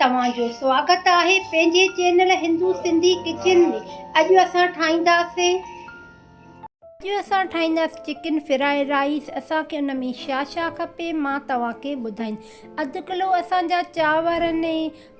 توهان جو سواگت آهي پنهنجي چينل هندو سنڌي ڪچن ۾ اڄ اسان ٺاهينداسين اڄ اسان ٺاهينداسين چڪن فرائي رائيس اسان کي ان ۾ ڇا ڇا کپي مان توهان کي ٻڌائين اڌ ڪلو اسان جا چانور ۽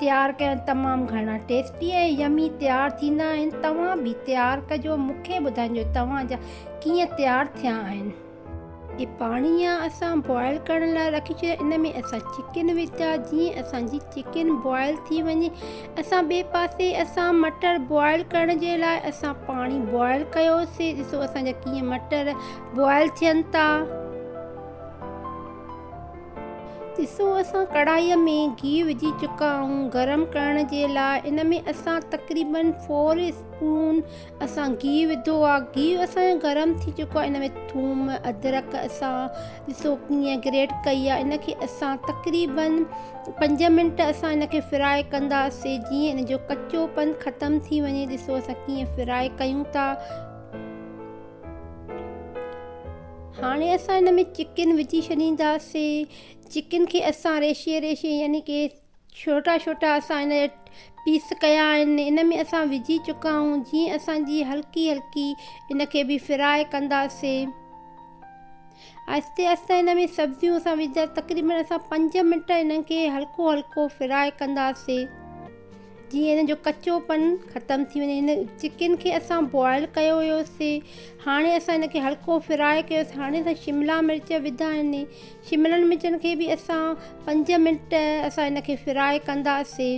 تيار ڪيا آهن تمام گهڻا ٽيسٽي ۽ يمي تيار ٿيندا آهن توهان به تيار ڪجو مونکي ٻڌائجو توهان جا ڪيئن تيار ٿيا آهن. هي پاڻي يا اسان بوائل ڪرڻ لاء رکي ڇڏيا ان ۾ اسان چڪن وڌا جيئن اسان جي چڪن بوائل ٿي وڃي اسان ٻي پاسي اسان مٽر بوائل ڪرڻ جي لاء اسان پاڻي بوائل ڪيو سي ڏسو اسان جا ڪيئن مٽر بوائل ٿين ٿا. ڏسو اسان ڪڙاهيء ۾ گيهه وجهي چڪا آهيون گرم ڪرڻ جي لاء ان ۾ اسان تقريباً فور اسپون اسان گيهه وڌو آهي گيهه اسان جو گرم ٿي چڪو آهي ان ۾ ٿوم ادرڪ اسان ڏسو ڪيئن گريٽ ڪئي آهي ان کي اسان تقريباً پنج منٽ اسان ان کي فرائي ڪنداسين جيئن ان جو ڪچو پن ختم ٿي وڃي ڏسو اسان ڪيئن فرائي ڪيون ٿا هاڻي اسان ان ۾ چڪن وجهي ڇڏينداسين چڪن کي اسان ريشي ريشي يعني ڪي ڇوٽا ڇوٽا اسان ان جا پيس ڪيا آهن ان ۾ اسان وجهي چڪا آهيون جيئن اسان جي هلڪي هلڪي ان کي به فرائي ڪنداسين آهستي آهستي ان ۾ سبزيون اسان وجهندا تقريبن اسان پنج منٽ انهن کي هلڪو هلڪو فرائي ڪنداسين جيئن ان جو ڪچو پن ختم ٿي وڃي هن چڪن کي اسان بوائل ڪيو هيوسي هاڻي اسان ان کي هلڪو فرائي ڪيوسي هاڻي اسان شملا مرچ وڌا آهن شملن مرچن کي به اسان پنج منٽ اسان ان کي فرائي ڪنداسي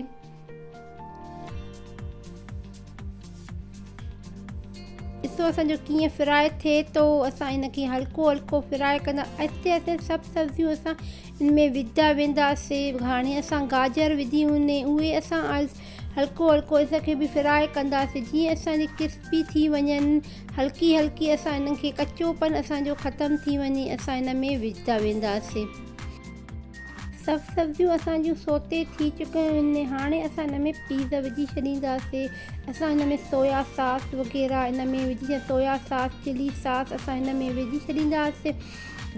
ڏسو اسان جو ڪيئن فرائي ٿئي ٿو اسان ان کي هلڪو هلڪو فرائي ڪندا آهستي آهستي سڀ سبزيون اسان ان ۾ وجهدا ويندا سي هاڻي اسان گاجر وجهي هوني اهي اسان هلڪو هلڪو اس کي به فرائي ڪندا سي جيئن اسان جي ڪرسپي ٿي وڃن هلڪي هلڪي اسان انهن کي ڪچو پن اسان جو ختم ٿي وڃي اسان ان ۾ وجهدا ويندا سي سڀ سبزيون اسان جون سوتي ٿي چڪيون هوني هاڻي اسان ان ۾ پيز وجهي ڇڏيندا سي اسان ان ۾ سويا ساس وغيره ان ۾ وجهي سويا ساس چلي ساس اسان ان ۾ وجهي ڇڏيندا سي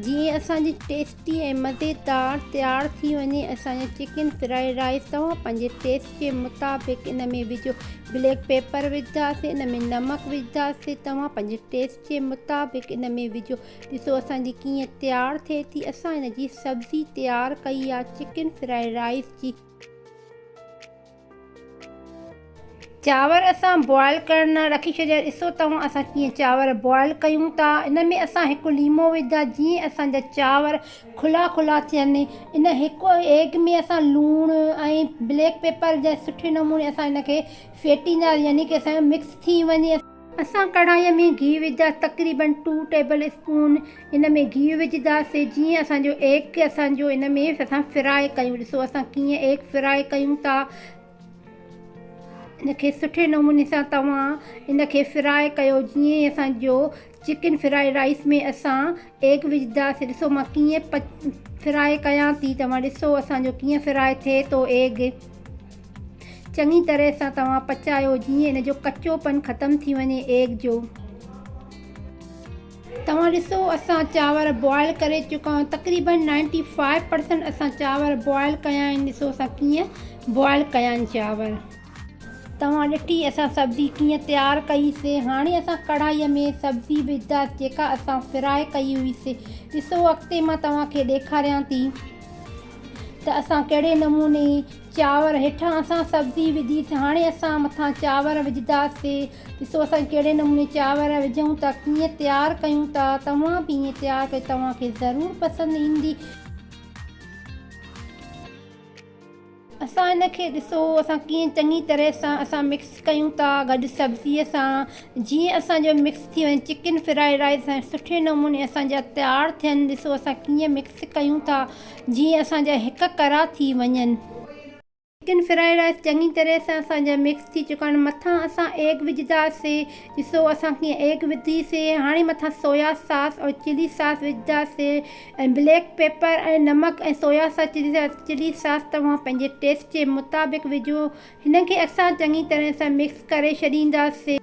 جيئن اسان جي ٽيسٽ تي مزي دار تيار ٿي وڃي اسان جو چڪن فرائيڊ رائيس توهان پنهنجي ٽيسٽ جي مطابق ان ۾ وجهو بليڪ پيپر وجهداسي ان ۾ نمڪ وجهداسي توهان پنهنجي ٽيسٽ جي مطابق ان ۾ وجهو ڏسو اسان جي ڪيئن تيار ٿئي ٿي اسان ان جي سبزي تيار ڪئي آ چڪن فرائيڊ رائيس جي چانور اسان بوائل ڪرڻ لاء رکي ڇڏيا ڏسو توهان اسان ڪيئن چانور بوائل ڪيون ٿا ان ۾ اسان هڪ ليمو وجهندا جيئن اسان جا چانور کلا کلا ٿين ان هڪ ايگ ۾ اسان لوڻ ۽ بليڪ پيپر جي سٺي نموني اسان ان کي ڦيٽيندا يعني ڪي اسان جو مڪس ٿي وڃي اسان ڪڙهائي ۾ گيهه وجهداسي تقريباً ٽو ٽيبل اسپون ان ۾ گيهه وجهداسي جيئن اسان جو ايگ اسان جو ان ۾ اسان فرائي ڪيون ڏسو اسان ڪيئن ايگ فرائي ڪيون ٿا ان کي سٺي نموني سان توهان ان کي فرائي ڪيو جيئن اسان جو چڪن فرائي رائس ۾ اسان ايڪ وجدا سي ڏسو مان ڪيئن ڦرائي ڪيان ٿي توهان ڏسو اسان جو ڪيئن ڦرائي ٿئي ٿو ايگ چڱي طرح سان توهان پچايو جيئن ان جو ڪچو پن ختم ٿي وڃي ايگ جو توهان ڏسو اسان چاور بوائل ڪري چڪا آهيون تقريبن نائنٽي فائيو پرسنٽ اسان چاور بوائل ڪيا آهن ڏسو اسان ڪيئن بوائل ڪيا آهن چاور. توهان ڏٺي اسان سبزي ڪيئن تيار ڪئي سي. هاڻي اسان ڪڙهائي ۾ سبزي وجهنداس جيڪا اسان فراء ڪئي هئي سي. ڏسو اڳتي مان توهان کي ڏيکاريان ٿي ته اسان ڪهڙي نموني چانور هيٺان اسان سبزي وجهي سي هاڻي اسان مٿان چانور وجهنداس سي. ڏسو اسان ڪهڙي نموني چانور وجهون ٿا ڪيئن تيار ڪيون ٿا. توهان به ائين تيار ڪجو توهان کي ضرور پسند ايندي. اسان ان کي ڏسو اسان ڪيئن چڱي طرح سان اسان مڪس ڪيون ٿا گڏ سبزي سان جيئن اسان جو مڪس ٿي وڃي چڪن فرائي رائس سان سٺي نموني اسان جا تيار ٿين ڏسو اسان ڪيئن مڪس ڪيون ٿا جيئن اسان جا هڪ ڪرا ٿي وڃن. چڪن فرائي رائس چڱي طرح سان اسان جا مڪس ٿي چڪا آهن مٿان اسان ايگ وجهندا سي ڏسو اسان ڪيئن ايگ وڌي سي هاڻي مٿان سويا ساس ۽ چلي ساس وجهندا سي ۽ بليڪ پيپر ۽ نمڪ ۽ سويا ساس يا چلي ساس توهان پنهنجي ٽيسٽ جي مطابق وجهو هن کي اسان چڱي طرح سان مڪس ڪري ڇڏينداسين.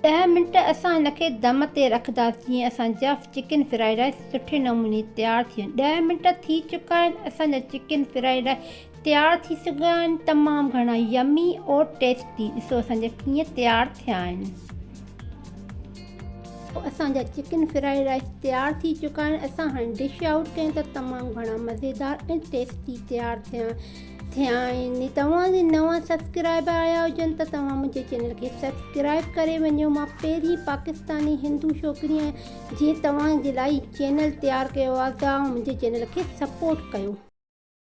ڏهه منٽ اسان هن کي دم تي رکنداسين جيئن اسان جا چڪن فرائيڊ رائيس سٺي نموني تيار ٿين ڏهه منٽ ٿي چڪا آهن اسان جا چڪن فرائيڊ رائيس تيار ٿي سگهيا آهن تمام گهڻا يمي اور ٽيسٽي ڏسو اسان جا ڪيئن تيار ٿيا آهن. اسان جا چڪن فرائيڊ رائيس تيار ٿي چڪا آهن اسان هاڻي ڊش آئوٽ ڪيون ٿا تمام گهڻا مزيدار ۽ ٽيسٽي تيار ٿيا ٿيا آهن توهان جي نوان سبسڪرائبر آيا هجن ته توهان منهنجي چينل کي سبسڪرائب ڪري وڃو مان پهرين پاڪستاني هندو ڇوڪري آهيان جنهن توهان جي لاء چينل تيار ڪيو آهي توهان منهنجي چينل کي سپورٽ ڪيو.